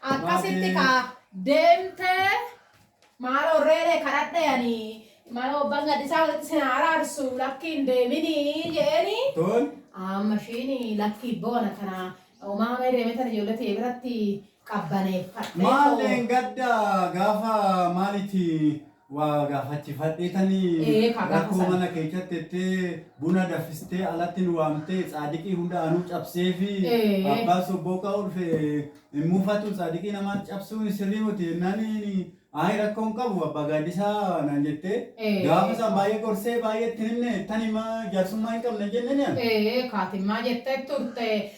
Akkasitti Baatee. kaa deemtee maaloo reeree kadhadhe ani maaloo abbaan gadhisaa walitti sin araarsu lakkiin deeminii jeeni Toon. amma ishiin lakkii boona kana umaamee deemetan ijoollee ta'e biratti qabbaneeffadhe. Maaleen gadda gaafa maalitti waa gaafachifadhee tanii Ee, kaa gaafa rakkoo san. mana keechatti tettee buna daffistee alatti nu waamtee tsaadiqii hunda anuu cabsee fi Ee. abbaan sobboo ka'uu dhufe hin muufatu tsaadiqii namaan cabsuun sirrii miti jennaan ayi rakkoo hin qabu abbaa gaaddisaa naan jettee Ee. gaafa san baay'ee gorsee baay'ee itti hin himne tani ma jaarsummaa hin qabna hin jenneen yaa Ee, kaatimmaa jettee turte.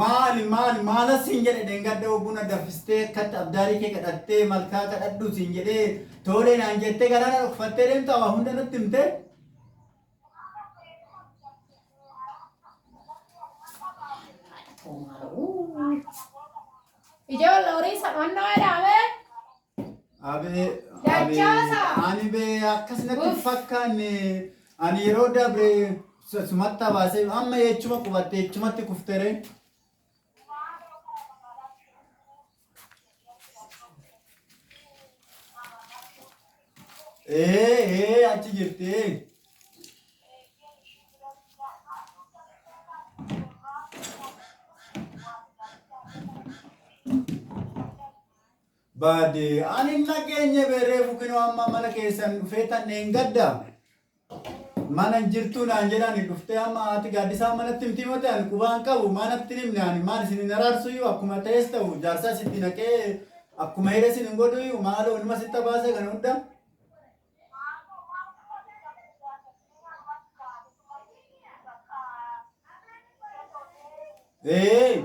Maali maali maalas siin jedhe dhengadda obbuu na daffistee akkatti abdaarii kee kadhattee malkaa kadhadhu siin jedhee toolee naan jettee garaa na dhokfattee deemtaa waa hunda natti himtee. Haadha koo maala. Ijoollee horii isa dhonnoo jedhame. Abee, abee, Dachaasa! ani bee akkas natti hin Uff. fakkaanne. Ani yeroo dabre su- sumatti hawaasee amma eechuma qubatte eechumatti kuftere. Ee, ee, achi jirti. ee. bade an hin dhageenye be reefu kino amma mana keessan dhufee tan dheengadda mana hin jirtuu naan jedhani dhuftee amma haati gaaddisaa manatti himti mate ani qubaan qabu manatti hin himne ani maal isin hin araarsuyyuu akkuma ta'es ta'u jaarsaa sitti naqee akkuma hire isin hin godhuyyuu maaloo numa sitta baasee kana hunda ee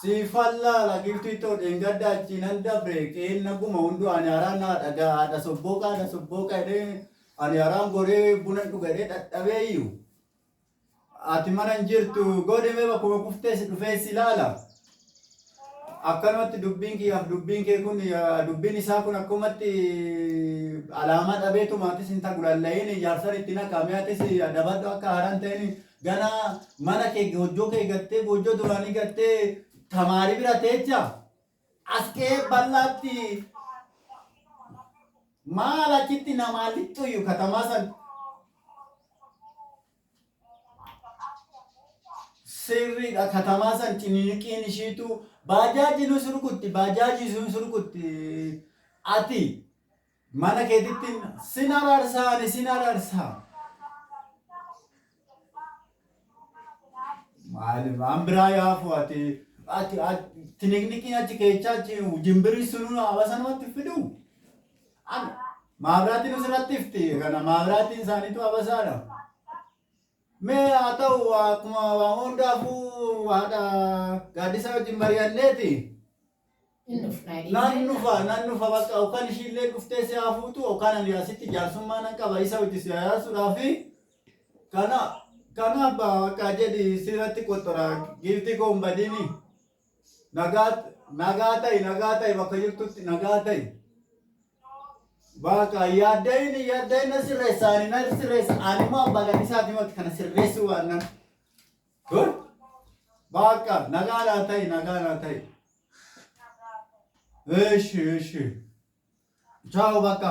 Siifan laala giftii too dheengadda achii nan dabre qeen naguma hunduu ani haraan naa dhagaa haadha sobbooqa haadha sobbooqa jedhee ani haraan goree buna hin dhuga jedhee dhadhabee iyyuu ati mana hin jirtu godhimee bakkuma kuftees dhufee si laala. Akkanumatti dubbiin kiyyaaf dubbiin kee kun dubbiin isaa kun akkumatti alaamaa dhabeetuma atis hin tagulalla'iin jaarsan itti naqaa mee atis adabadhu akka haaraan ta'in gana mana kee goojjoo kee gattee goojjoo duraanii gattee tamaarii bira teecha as kee bal'aatti maal achitti namaa lixxuyyu katamaa san Sirridha katamaa san cininiqiin ishiitu baajaajinus rukutti baajaajiisuun rukutti ati mana keetitti sin araarsaa ani sin araarsaa. Maali waan biraa yoo hafu ati ati ati- tiniqniqiin achi keechaa achi jimbirri sunuu hawaasa namatti fiduu. An. Maabiraatiin asirratti ifti kana maabiraatiin isaaniitu abasaadha. Mee haa ta'u akkuma waan hundaafuu haadha gaaddisaa wajjin mari'anneeti. Hin dhufna. Nan dhufa nan dhufa bakka yookaan ishiillee dhuftee si haa fuutu yookaan ani asitti jaarsummaa nan qaba isa wajjin si hayaasuudhaafi kana kanaaf bakka jedhi sirratti qottora giiftii koo hin badini. Nagaa nagaa ta'i nagaa ta'i bakka jirtutti nagaa ta'i. Baaka yaaddayin yaaddayin na sirreessa ani na sirreessa ani immoo abbaa gadhisaa dhimmoota kana sirreessuu waan nan. Dur baaka nagaa naa ta'i nagaa naa ta'i. Eeshi eeshi. Chaawo bakka.